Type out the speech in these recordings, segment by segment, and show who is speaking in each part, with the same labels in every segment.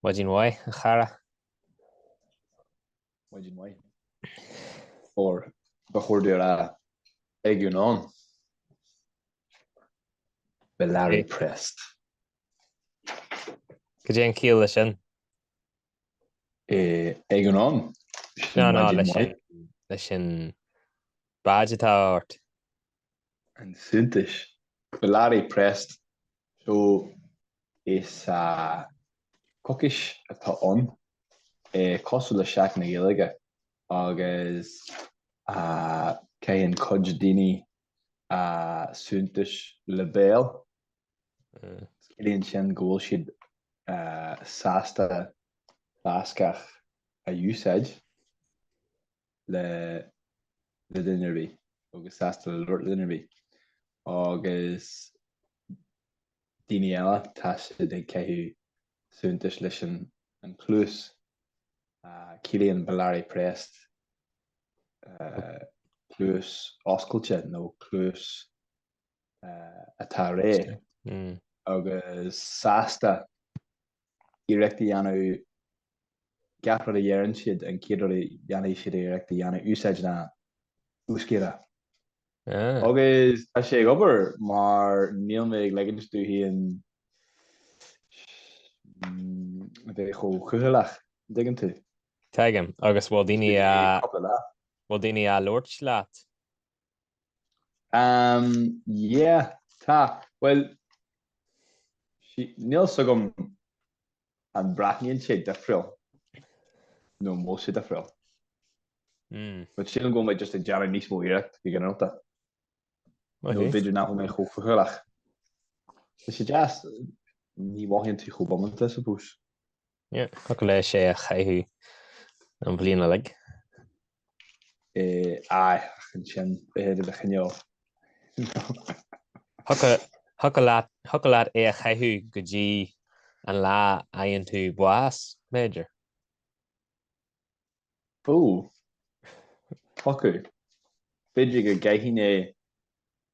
Speaker 1: Maidin mhaith, a chara. Maidin mhaith. Or ba chóir dom a rá egun on. Belarriprest. Cad é an ciall leis sin? Egun on. Sin maidin mhaith. No, no, leis an badge atá ort. an suaitheantas. Belarriprest so is ea coicís atá ann, é cosúil le Seachtain na Gaeilge agus caitheann cuid daoine an suaitheantas le béal. Ciallaíonn sin go bhfuil siad sásta Bascach a úsáid. le le duine ar bith agus sásta le labhairt le duine ar bith agus daoine eile tá siad ag caitheamh suaitheantas leis an an cluas ciallaíonn Belarriprest cluas oscailte nó cluas atá réidh mm. agus sásta iarracht a dhéanamh gach rud a deireann siad, an chéad rud a dhéanfaidh siad iarracht a dhéanamh úsáid an Euskara. Agus tá sé ag obair mar níl mé ag ligint dom féin a bheith chomh cúthaileach, dtuigeann tú. Tuigim, agus bhfuil daoine á, bhfuil daoine á labhairt leat? Yeah, tá. Bhuel, níl 's agam An mbreathnaíonn sé difriúil nó bhfuil sé difriúil but sílim go bhfuil mé just ag déanamh níos mó iarracht go ginearálta. Nó b'fhéidir nach bhfuil mé chomh cúthaileach ach tá sé deas, ní mhothaíonn tú chomh bómánta, suppose. Thiocfadh leatsa é a chaitheamh an bhliain uilig Eh, aye, ach ansin, b'fhéidir chineál. Thiocfadh leat é a chaitheamh go dtí an lá a fhaigheann tú bás, b'fhéidir? Ó, thiocfadh. B'fhéidir go gcaithfinn é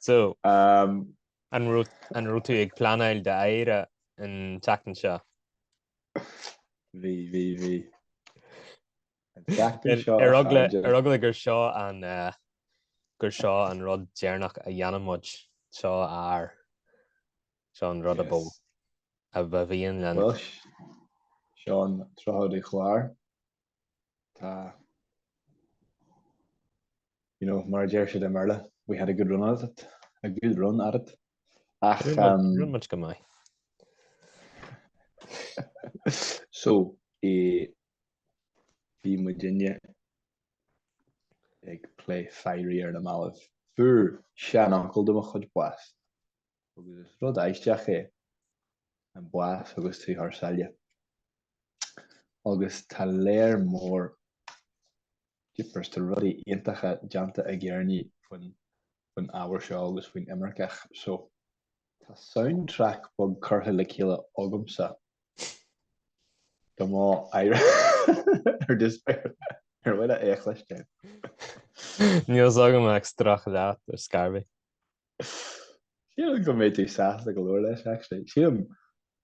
Speaker 1: So, an raibh tú ag pleanáil d'fhaire an tseachtain seo? Bhí, bhí, bhí. Ar eagla gur seo an gur seo an rud deireanach a dhéanann muid, seo ár seo an rud a bó a bhíonn lena. Seán Trá Uí Chláir. Tá, you know, mar a deir siad i mBéarla, we had a good run at it, a good run at it. Ach, um, rinn muid go maith. so, i bhí muidinne ag plé fairí ar na mallaibh. Fuair sean-uncle de mo chuid bás. agus is rud aisteach é an bás agus tú thar sáile agus tá léar mór Jeepers tá rudaí iontacha déanta ag Éireannaigh faoin faoin ábhar seo agus faoin imirce ach so tá soundtrack beag curtha le chéile agamsa do m'fhaire just ar mhaith leat é a chloisteáil. Níl fhios agam ach strac leat ar scor ar bith. Sílim go mbeidh tú sásta go leor leis actually. Sílim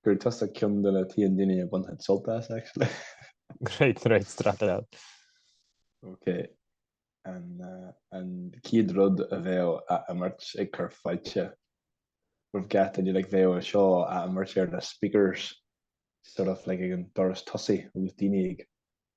Speaker 1: gur tusa ceann de na t-aon daoine a bhainfeadh sult as actually. Great, great straight out. Ok, an chéad rud a bheadh á imirt ag cur fáilte roimh gach duine like bheadh seo á imirt ar na speakers sort of like ag an doras tosaigh agus daoine ag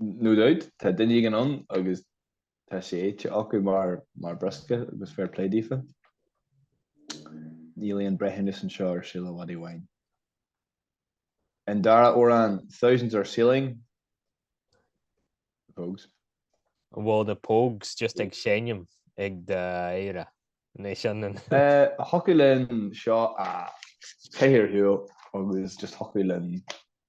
Speaker 1: No doubt, tá duine éigin ann agus tá sé ite acu mar briosca agus fair play daofa. Níl aon breithiúnas anseo ar Saol an Mhadaidh Bháin. An dara amhrán, Thousands Are Sailing, The Pogues. Bhfuil The Pogues just ag seinm ag d'fhaire? An é sin an. Thiocfadh linn seo a bheith ar siúl agus just thiocfadh linn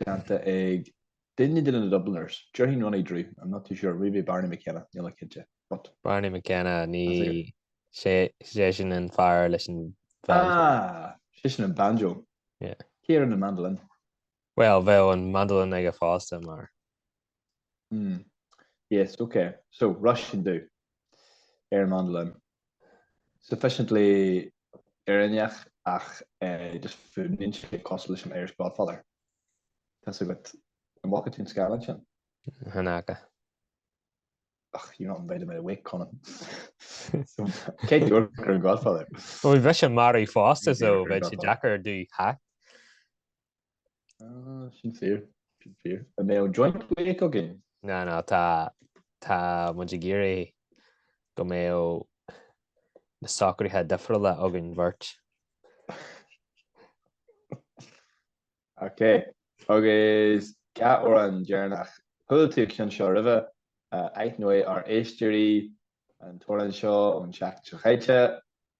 Speaker 1: déanta ag duine de na Dubliners, déarfainn Ronnie Drew, I'm not too sure, maybe Barney McKenna, níl mé cinnte, but. Barney McKenna, ní sé sin an fear leis an Ah, sé sin an banjo. Yeah. Cé ar an mandolin? Well, bheadh an mandolin aige fosta mar. Umm. Yes, ok. So, Róisín Dubh. Ar an mandolin. Sufficiently Éireanneach ach just fuaimníonn sé cosúil leis an Irish Godfather. Tá's agat. An bhfaca tú an scannán sin? Ní fhaca. Ach, you're not invited to my wake, Conan. Cé dúirt gur an Godfather? Bhuel, bheadh sé marbh fosta so bheadh sé deacair di theacht. Ah, sin fíor, sin fíor. An mbeidh joint wake againn? Ná, ná, tá, tá muid ag iarraidh go mbeadh na socraithe difriúla againn bheirt. Ok, agus amhrán deireanach chuala tú seo roimhe, aithneoidh ár éisteoirí an t-amhrán seo ón tseachtain seo caite,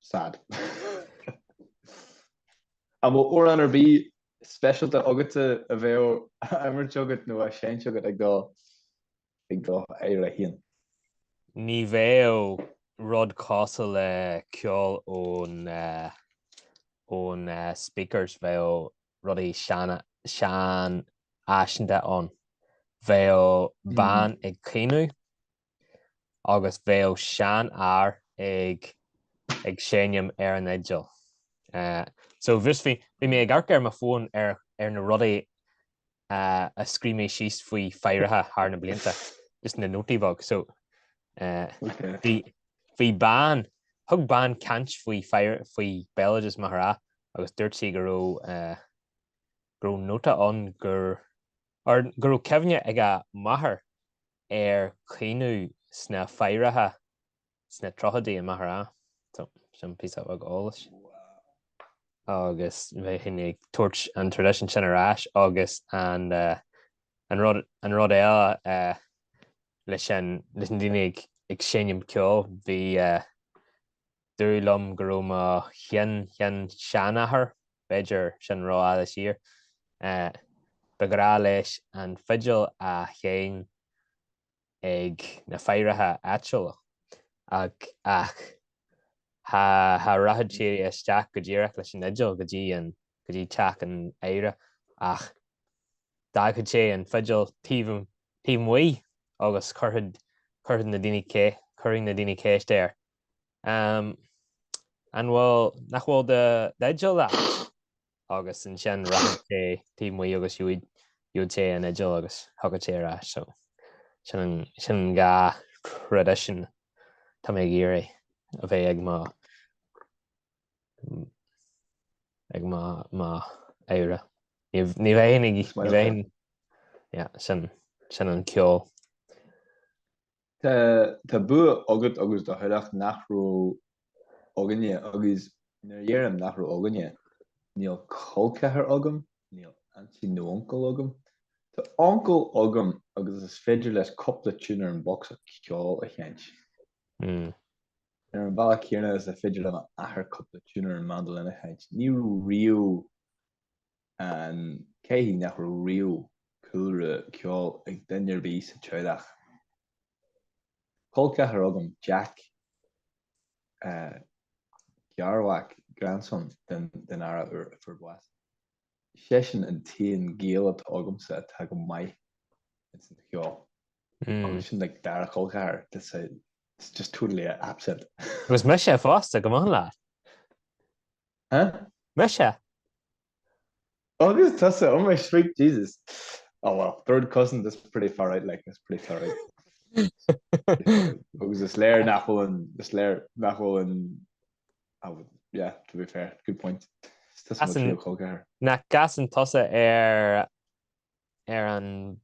Speaker 1: Sad. An bhfuil amhrán ar bith speisialta agatsa a bheadh á imirt agat nó á seinnt agat ag do ag d'fhaire féin? Ní bheadh rud cosúil le ceol ón ón Speakers, bheadh rudaí sean seanfhaiseanta ann. Bheadh bean ag caoineadh. agus bheadh seanfhear ag ag seinm ar an fhidil. Eh, so bhris bhí, bhí mé ag amharc ar mo fón ar ar na rudaí eh, a scríobh mé síos faoi faireacha thar na blianta, just na nótaí beag. So eh, Ok. bhí, bhí bean, thug bean caint faoi fair, faoi béaloideas Maghera agus dúirt sí go raibh eh, go raibh nóta ann gur Ar go raibh cuimhne ag a máthair ar chaoineadh sna faireacha sna tríochaidí, i Maghera. So, sin píosa beag eolais. Agus bheinn ag tabhairt an traidisiún sin ar ais agus an rud, an rud eile leis an, leis na daoine ag seinm ceoil, bhí, dúradh liom go raibh mo shin-shin-seanathair, b'fhéidir sin rófhada siar, ba ghrá leis an fidil a sheinn ag na faireacha áitiúla, ach cha rachadh sé isteach go díreach leis an fhidil go dtí teach an fhaire ach d'fhágfadh sé an fidil taobh amuigh agus chuirfeadh na daoine ceist air. An bhfuil, nach bhfuil d'fhidil leat? Agus ansin rachadh sé taobh amuigh agus gheobhadh sé an fhidil agus thiocfadh sé ar ais. Sin an dhá thraidisiún tá mé ag iarraidh a bheith ag mo fhaire. Ní bheinn ag, sin an ceol. Tá bua agat agus do theaghlach nach raibh againne, agus nuair a dheirim nach raibh againne, níl col ceathair agam, níl aintín nó uncail agam. Tá uncail agam agus is féidir leis cúpla tiún ar an bhocsa ceoil a sheinnt. Ar an bhealach céanna is féidir le m'athair cúpla tiún ar an mandolin a sheinnt. Ní raibh riamh. An cé hí nach raibh riamh cúlra ceoil ag duine ar bith sa teaghlach? Col ceathar agam, Jack, garmhac, grandson, den fhear a fuair bás. Seisean an t-aon gaol atá agamsa atá go maith ins an cheol. Agus sin like dara col ceathar that's a it's just totally absent. Agus mise fosta, go maith leat. Huh? Briseadh! Agus tusa, oh my sweet Jesus! Oh well, third cousin, that's pretty far out like, that's pretty far out. Agus is léir nach bhfuil an, is léir nach bhfuil an, oh well, yeah, to be fair, good point. Is tusa mo As an- tríú col ceathair. Nach gcasann tusa ar, ar an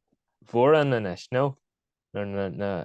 Speaker 1: bhodhrán anois, nó? Nuair na, na,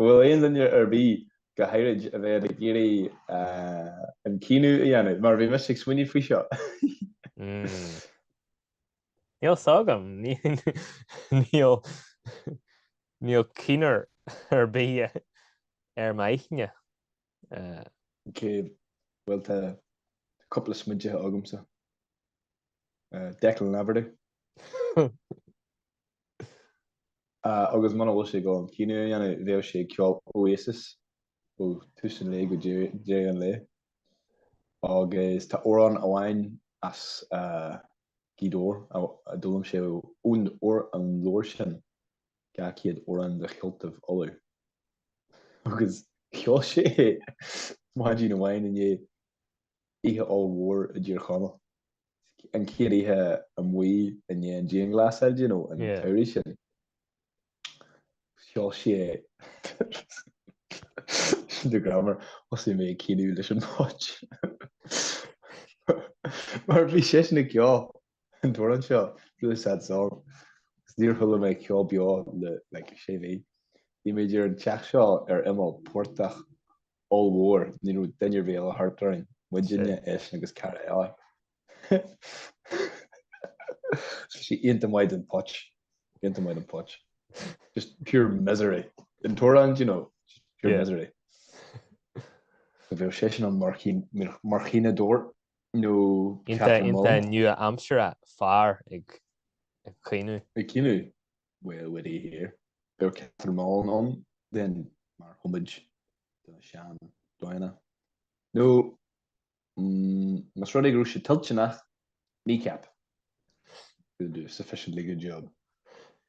Speaker 1: An bhfuil aon duine ar bith, go háirid, a bheadh ag iarraidh an caoineadh a dhéanamh, mar bhí mise ag smaoineamh faoi seo? Níl fhios agam. Níl keener ar bith ar m'aithne. Cé go bhfuil tá cúpla smaointeacha agamsa. Declan Laverty. agus muna bhfuil sé ag dul an caoineadh a dhéanamh, bheadh sé ag ceol Oasis ó tús an lae go deireadh an lae. Agus tá amhrán amháin as Gaoth Dobhair a d'fhoghlaim sé ón leabhar sin, Dhá Chéad Amhrán de Cheoltaibh Uladh, agus cheol sé é maidin amháin i ndiaidh. oíche ollmhór i dTír Chonaill. an chéad oíche amuigh i ndiaidh an dianghlasáil, do you know, an tsamhraidh sin. Cheol sé sin do you remember thosaigh mé ag caoineadh leis an phóit. Mar bhí sé sin ag ceol. an t-amhrán seo, really sad song, agus níor chuala mé ceol beo le like sé mhí. Bhí muid ar an teach seo ar imeall portach ollmhór, ní raibh duine ar bith eile thart orainn, muidinne, Shit. eisean agus cara eile. so sé iontach maith don phóit, iontach maith don phóit. Just pure misery. An t-amhrán, do you know, just pure Yeah. misery. So bheadh seisean ann mar chaoin- mar chaoineadóir, nó Catherine Mullen. Iontach nua-aimseartha, fear ag caoineadh. Ag caoineadh, well with it here. Beidh Catherine Mullen ann then mar homage do na seandaoine. Nó más rud é go raibh sé toilteanach, kneecap will do sufficiently good job.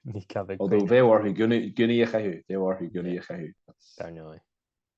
Speaker 1: Kneecap ag caoineadh. Although bheadh orthu gúnaí a chaitheamh, bheadh orthu gúnaí a chaitheamh. Dar ndóigh.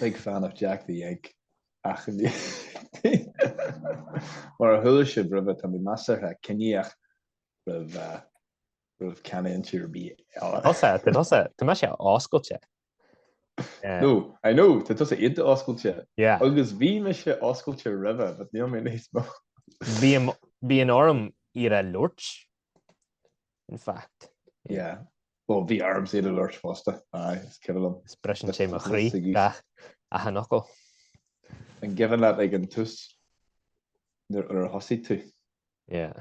Speaker 1: Big fan of Jack the Egg, achainí. Mar a chuala sibh roimhe, tá mé measartha ciníoch roimh roimh canúintí ar bith eile. Tusa, tá tusa, tá mé sé oscailte. No, I know, tá tusa iontach oscailte. Yeah. Agus bhí mise oscailte roimhe, but níl mé níos mó. Bíonn orm iad a labhairt in fact. Yeah. Well, bhí ormsa iad a labhairt fosta. Aye, is cuimhin liom. Is briseann sé mo chroí achan fhocal. An cuimhin leat ag an tús nuair a thosaigh tú. Yeah.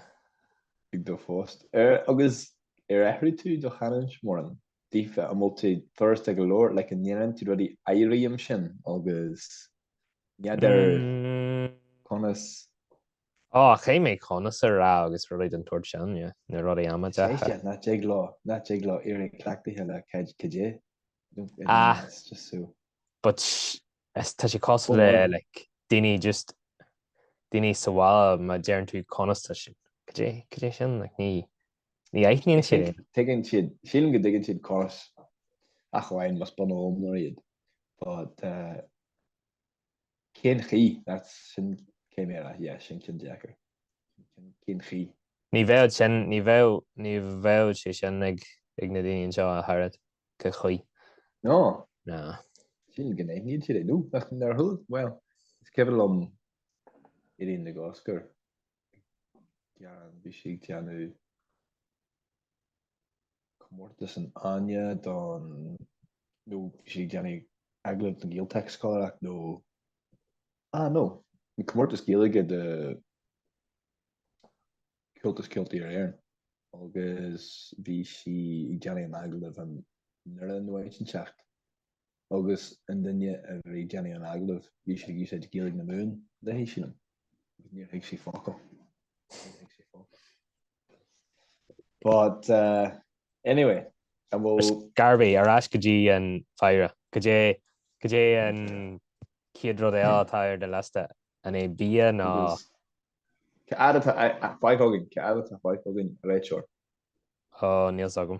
Speaker 1: Ag do phost. Ar, agus ar athraigh tú do chanúint mórán? Daofa, an bhfuil tú furasta go leor? Like, an ndeireann tú rudaí éirí ansin agus n'fheadar conas Ó, caithfidh mé conas a rá agus rudaí den tsórt sin, yeah, na rudaí amaideacha. Is é seo, nach dtig leo, nach dtig leo éirí cleachtaithe le cad, cad é? I don't, I don't Ah. know, it's just so. But is tá sé cosúil le Bhuel. like daoine just daoine sa bhaile má deireann tú conas tá sin cad é cad é sin like ní ní aithníonn sé Tuigeann- Tuigeann siad, sílim go dtuigeann siad conas ach amháin más bunóimnir iad. But eh, Cén chaoi? That's, sin, cé mhéara? Yeah, sin ceann deacair. Cén, cén chaoi? Ní bheadh sin, ní bheadh, ní bheadh sé sin ag, ag na daoine anseo ach oiread. Cé chaoi? No. No. Sin gné, níl siad ag, nó nach, nár thuill, well, is cuimhin liom i rith na gcosc ar. gearán, bhí sí ag déanamh comórtas an fháinne don, nó bhí sí ag déanamh agallamh don Ghaeltacht scoláireacht nó, ah no, an comórtas Gaeilge do Comhaltas Ceoltóirí Éireann agus bhí sí ag déanamh an agallamh i nDoire nó áit inteacht agus an duine a bhí ag déanamh an agallamh, bhí siad ag úsáid Gaeilge na Mumhan léi, sílim, agus níor thuig sí focal. Níor thuig sí focal. But, uh, anyway, an bhfuil. Ar scor ar bith, ar ais go dtí an faire. Cad é, cad é an chéad rud eile atá ar do liosta? An é bia ná. Agus Cá fhad atá a- a- fágtha againn? Cá fhad atá fágtha againn, a réiteoir? Ó, níl 's agam.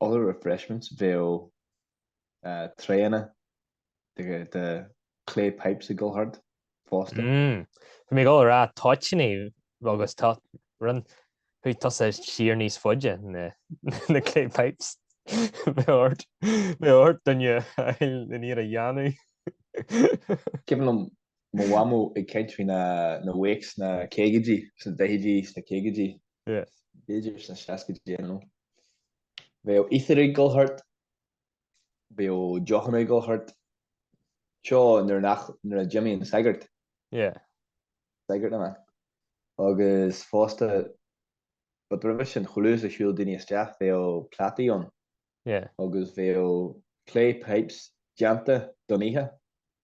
Speaker 1: other refreshments bheadh trayanna de clay pipes ag gabháil thart fosta. Bhí mé ag dul a rá toitíní agus tá rud chuaigh tusa siar níos faide na clay pipes. Bheadh ort duine aniar a dhéanamh. Cuimhin liom mo mhamó ag caint faoi na wakes sna caogaidí, sna daichidí, sna caogaidí. Yes. B'fhéidir sna seascaidí I don't know. Bheadh uisce ag dul thart. Bheadh deochanna ag dul thart. Seo nuair nach, nuair a d'imíonn an sagart. Yeah. Sagart na mban. Agus fosta, but roimhe sin chuile uair a shiúil daoine isteach bheadh plátaí ann. Yeah. Agus bheadh clay pipes déanta don oíche.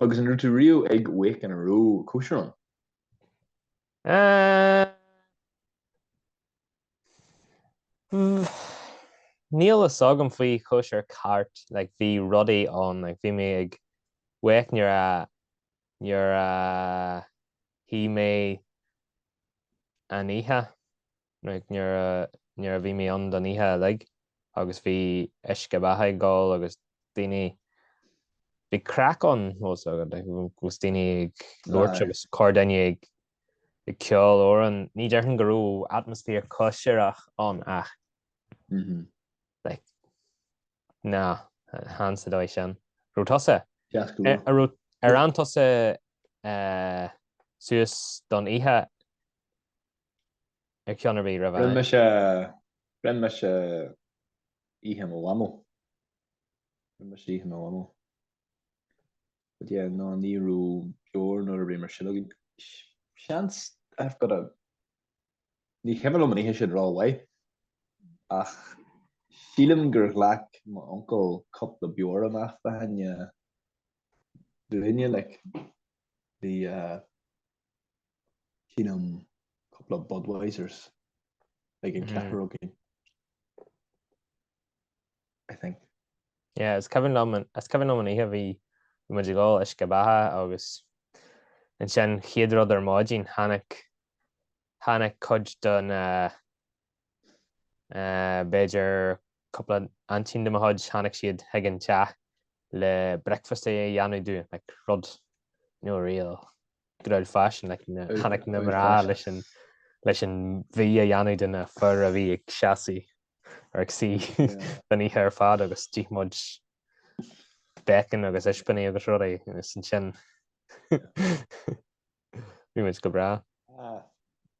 Speaker 1: Agus an raibh tú riamh ag wake ina raibh cóisir ann? Níl fhios agam faoi chóisir cheart, like bhí rudaí ann, like bhí mé ag wake nuair a nuair a shuigh mé an oíche. Minic nuair a nuair a bhí mé ann don oíche uilig agus bhí uisce beatha ag gabháil agus daoine bhí craic ann fós agat like agus daoine ag labhairt Aye. agus corrdhuine ag ag ceol amhráin. Ní déarfainn go raibh atmaisféar cóisireach ann ach Mhm. ní hea sa dóigh sin. Raibh tusa ar ar fhan tusa eh, suas don oíche ag ceann ar bith riamh. Rinne mise oíche mo mhamó. Rinne mise oíche mo mhamó. But yeah, ná ní raibh beoir nó a dhath mar sin againn. Seans I've got a Ní cuimhin liom an oíche sin ró mhaith ach sílim gur ghlac m'uncail cúpla beoir amach do Áine Bhriain, like, bhí, Sílim cúpla Budweisers ag an cheathrar againn, I think. Yeah, is cuimhin liom an, is cuimhin liom an oíche bhí bhí muid ag ól uisce beatha agus ansin chéad rud ar maidin tháinig tháinig cuid den uh, B'fhéidir cúpla aintín de mo chuid, tháinig siad chuig an teach le breicfeast a dhéanamh dúinn, like, rud, you know, real good old fashioned, like, na, tháinig na mná leis an, leis an bhia a dhéanamh do na fir a bhí ag seasamh, or ag suí don oíche ar fad agus d'ith muid bacon agus ispíní agus rudaí, agus ansin bhí muid go breá.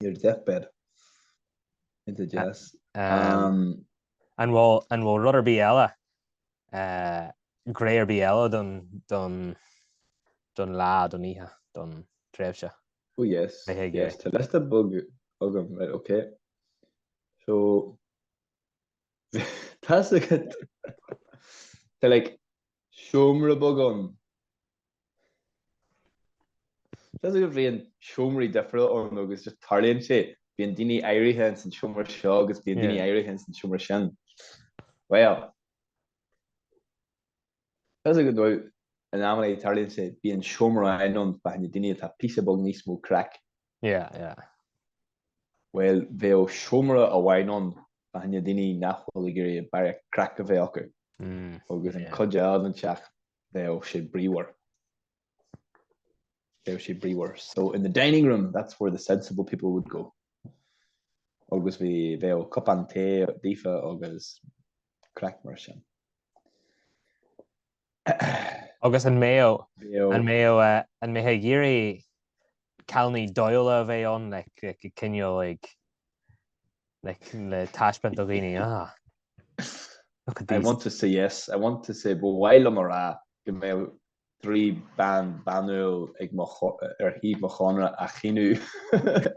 Speaker 1: Your deathbed. Into death. Um, an bhfuil an bhfuil rud ar bith eile uh, gné ar bith eile don don don lá don oíche don tréimhse. Oh yes. Yes, tá liosta beag agam, right, okay. So Tá like seomra beag ann Seans go mbíonn seomraí difriúla ann nó agus just tarlaíonn sé, bíonn daoine éirithe ins an seomra seo agus bíonn daoine éirithe ins an seomra sin. Bhuel, tá fhios agat in amanna tarlaíonn sé, bíonn seomra amháin ann fá choinne daoine atá píosa beag níos mó craic. Yeah, yeah. Bhuel, bheadh seomra amháin ann fá choinne daoine nach bhfuil ag iarraidh barraíocht craic a bheith acu. Mm, agus an yeah. cuid eile den teach bheadh sé bríomhar. bheadh sé bríomhar. So in the dining room, that's where the sensible people would go. agus bhí bheadh cupán tae daofa agus craic mar sin. agus an mbeadh an mbeadh an mbeadh ag iarraidh Cailíní dóighiúla a bheith ann le cineál ag le taispeáint do dhaoine, ah, look at these. I want to say yes, I want to say, ba mhaith liom a rá go mbeadh trí bean banúil ar thaobh mo chónra ag caoineadh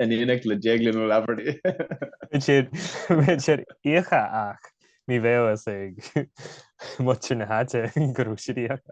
Speaker 1: in éineacht le Déaglán Ó Laibheartaigh. Bheadh siad íoctha ach ní bheadh fhios ag muintir na háite go raibh siad íoctha.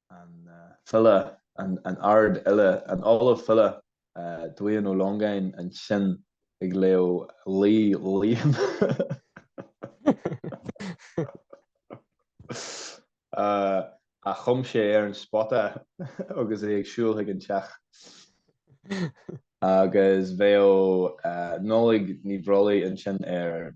Speaker 1: an file, an ardfhile, an ollamh file, Dubhán Ó Longáin ansin ag léamh laoi Liam. a chum sé ar an spota agus é ag siúl chuig an teach. Agus bheadh Nodlaig Ní Bhrollaigh ansin ar.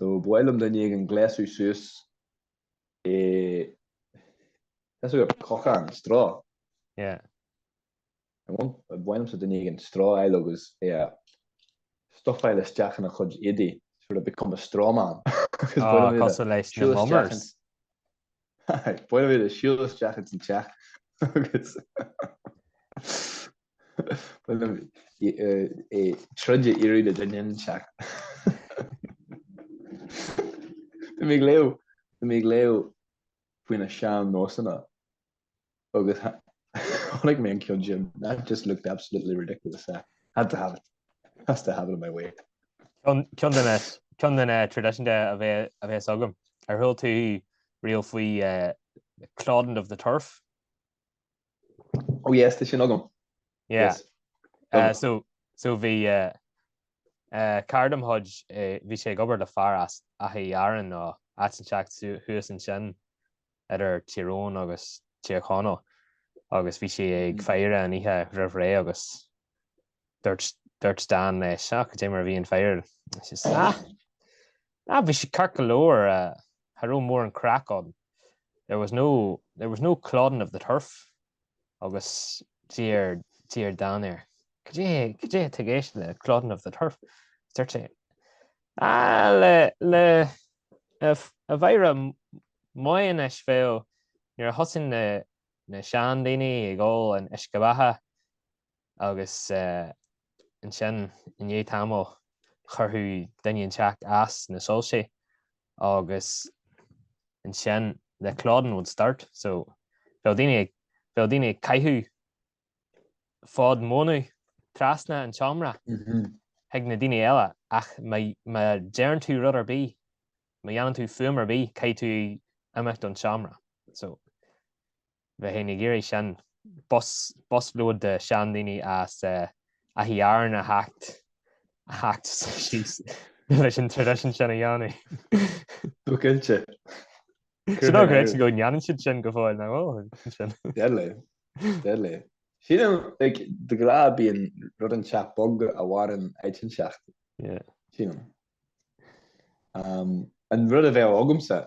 Speaker 1: Nó ba mhaith liom duine éigin gléasadh suas i cochán, straw. Yeah. Ba mhaith liomsa duine éigin straw a fháil agus é a stufáil isteach ina chuid éadaí, sort of become a straw man. Ah, cosúil leis na mummers. Ba mhaith liom é a siúl isteach ins an teach agus... é troid a iarraidh le duine inteacht. Tá mé ag léamh Tá mé ag léamh faoi na sean-nósanna agus tháinig mé ar cheann díobh that just looked absolutely ridiculous uh, had to have it has to have it in my wake Ceann de na ceann de na eh, tradition de a bheith a bheith agam ar chuala tú riamh faoi eh, clodding of the turf Oh yes, tá sin agam. Yeah. Yes. Uh, so, so bhí uh, uh, cara de mo chuid, eh, bhí sé ag obair le fear as Achadh Uí Áráin nó áit inteacht thuas ansin idir Tír Eoghain agus Tír Chonaill agus bhí sé ag mm. faire an oíche roimh ré agus dúirt dúirt Dan leis cad é mar a bhí an fhaire. Ah! Ah, bhí sé ceart go leor, cha raibh mórán craic ann. There was no there was no clodding of the turf agus d'iarr d'iarr Dan air Cad é cad é atá i gceist le clodding of the turf? Is dúirt sé Ah, le le a a faire mhaith anois bheadh nuair a thosaíonn na na seandaoine ag ól an uisce beatha agus ansin i ndiaidh tamaill chuirfeadh duine inteacht as na soilsí agus ansin the clodding would start so bheadh daoine ag, bheadh daoine ag caitheamh fód mónadh trasna an tseomra chuig na daoine eile ach má deireann tú rud ar bith, má dhéanann tú fuaim ar bith caithfidh tú imeacht ón seomra. So. bheinn féin ag iarraidh sin, bus load de sheandaoine as Achadh Uí Áráin a theacht síos leis an tradition sin a dhéanamh. Go cinnte. Sin ná gréasáin go ndéanann siad sin go fóill, nach bhfuil? Deadly. Deadly. Sílim, like, de ghnáth bíonn rud inteacht beag a mhaireann áit inteacht, sílim. An rud a bheadh agamsa,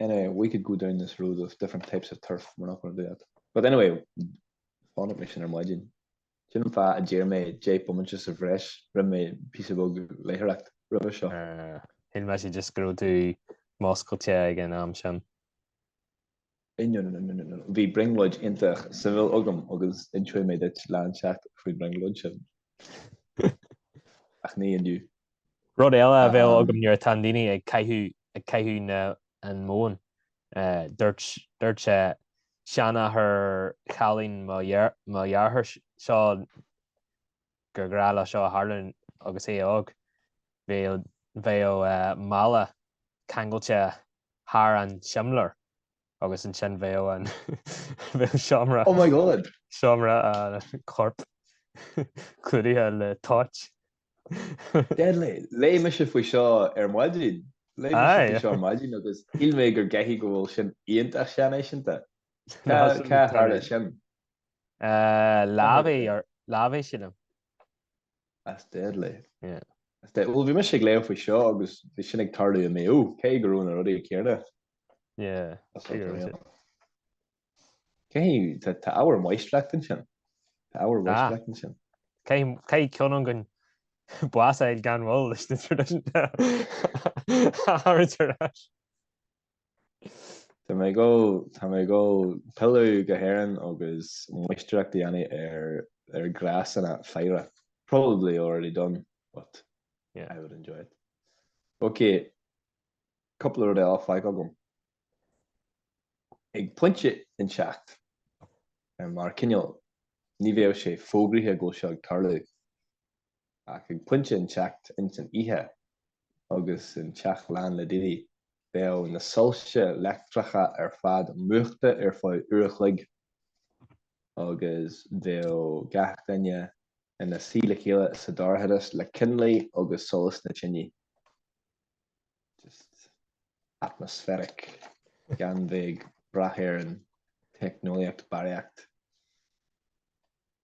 Speaker 1: Anyway we could go down this road of different types of turf, we're not going to do that. But anyway, chonaic mé sin ar maidin. Sin an fáth a d'iarr mé deich bomaite sa bhreis, rinne mé píosa beag léitheoireacht roimhe seo. Shíl mise just go raibh tú múscailte ag an am sin. Bhí brionglóid iontach suimiúil agam agus inseoidh mé duit lá inteacht faoin bhrionglóid sin. Ach ní inniu. Rud eile a bheadh agam nuair atá daoine ag caitheamh na an móin. Dúirt sé seanathair chailín mo dhearthár seo gur ghnách le seo tarlú agus é óg, bheadh a mála ceangailte thar an simléar agus ansin bheadh seomra an choirp clúdaithe le toit. Léigh mise faoi seo ar maidin. Léigh mise faoi seo ar maidin agus shíl mé go gcaithfidh go bhfuil sin iontach seanfhaiseanta. Cá tharla sin? Eh, Lavey or- Lavey sílim. That's deadly. Yeah. That's de- Bhuel, bhí mise ag léamh faoi seo agus bhí sin ag tarlú i Maigh Eo, cé go raibh na rudaí céanna. Yeah. That's Cé go raibh unreal. Cé hí, tá tá ábhar máistreachta ansin. Tá ábhar Ah. máistreachta ansin. Caithfidh ceann againn bás a fháil gan mhoill leis na tradition a thabhairt ar ais. Tá mé ag gabháil, tá mé ag gabháil pilleadh go hÉirinn agus máistreacht a dhéanamh ar ar ghnásanna faire. Probably already done but Yeah. I would enjoy it. Ok, cúpla rud eile atá fágtha agam. Ag pointe inteacht, mar cineál, ní bheadh sé fógraithe go bhfuil sé ag tarlú. ach ag pointe inteacht ins an oíche agus an teach lán le daoine, bheadh na soilse leictreacha ar fad múchta ar feadh uair a chloig agus bheadh gach duine ina suí le chéile sa dorchadas le coinnlí agus solas na tineadh. Just atmospheric gan bheith ag brath ar an teicneolaíocht barraíocht.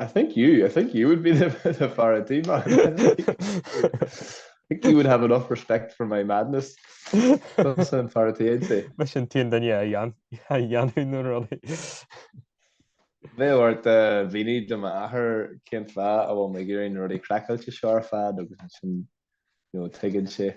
Speaker 1: I think you, I think you would be the, the fear an tí man. I think you would have enough respect for my madness. Tusa fear an tí, I'd say. Mar sin tú an duine a dhéan, a dhéanfadh na rudaí. Beidh ort a mhíniú do m'athair cén fáth a bhfuil mé ag iarraidh na rudaí craiceáilte seo ar fad agus sin, you know, tuigeann sé.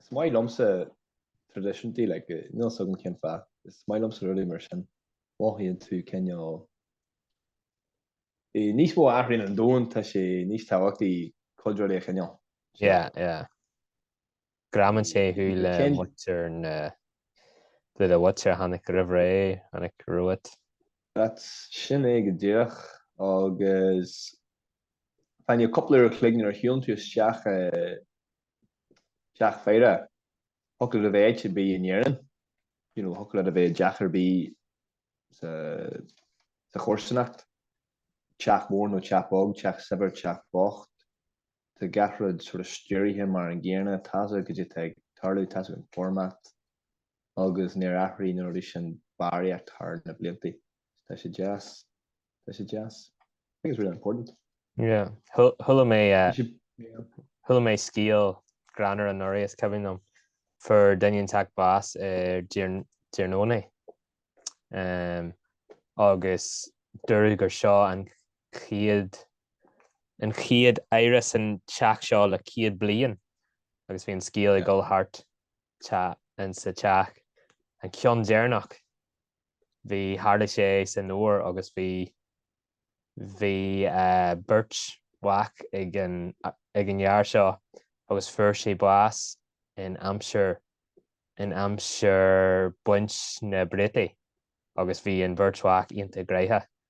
Speaker 1: Is maith liomsa traidisiúntaí, like, níl 'fhios agam cén fáth, is maith liomsa rudaí mar sin, mothaíonn tú cineál, níos mó a athraíonn an domhan, tá sé níos tábhachtaí cuid rudaí a choinneáil. Yeah, yeah. Greamaíonn sé thú le muintir na háite, an mhuintir a tháinig roimh ré, tháinig romhat. That's, sin é go díreach, agus fá choinne cúpla uair a chloig nuair a shiúlann tú isteach i Teach faire, thiocfadh leat a bheith áit ar bith in Éirinn, you know, thiocfadh leat a bheith i dteach ar bith sa, sa chomharsanacht, teach mór nó teach beag, teach saibhir, teach bocht, tá gach rud sort of stiúraithe mar an gcéanna, tá's agat caidé tá ag tarlú, tá's agat an format agus níor athraigh na rudaí sin barraíocht thar na blianta. Tá sé deas. tá sé deas. I think it's really important. Yeah, chuala mé chuala mé scéal greannmhar anuraidh is cuimhin liom fuair duine inteacht bás ar Diarnónaí um, agus dúradh gur seo an chéad an chéad fhaire san teach seo le céad bliain agus bhí an scéal ag dul thart ins an teach an ceann deireanach bhí, tharlaigh sé san fhómhar agus bhí, bhí beirt mhac ag an, ag an fhear seo agus fuair sé bás in aimsir, in aimsir baint na bpréataí agus bhí an bheirt mhac iontach gnaitheach.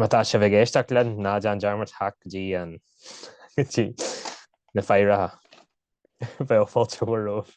Speaker 1: Má tá sibh ag éisteacht linn, ná déan dearmad theacht go dtí an go dtí na faireanna. Bheadh fáilte mhór romhaibh.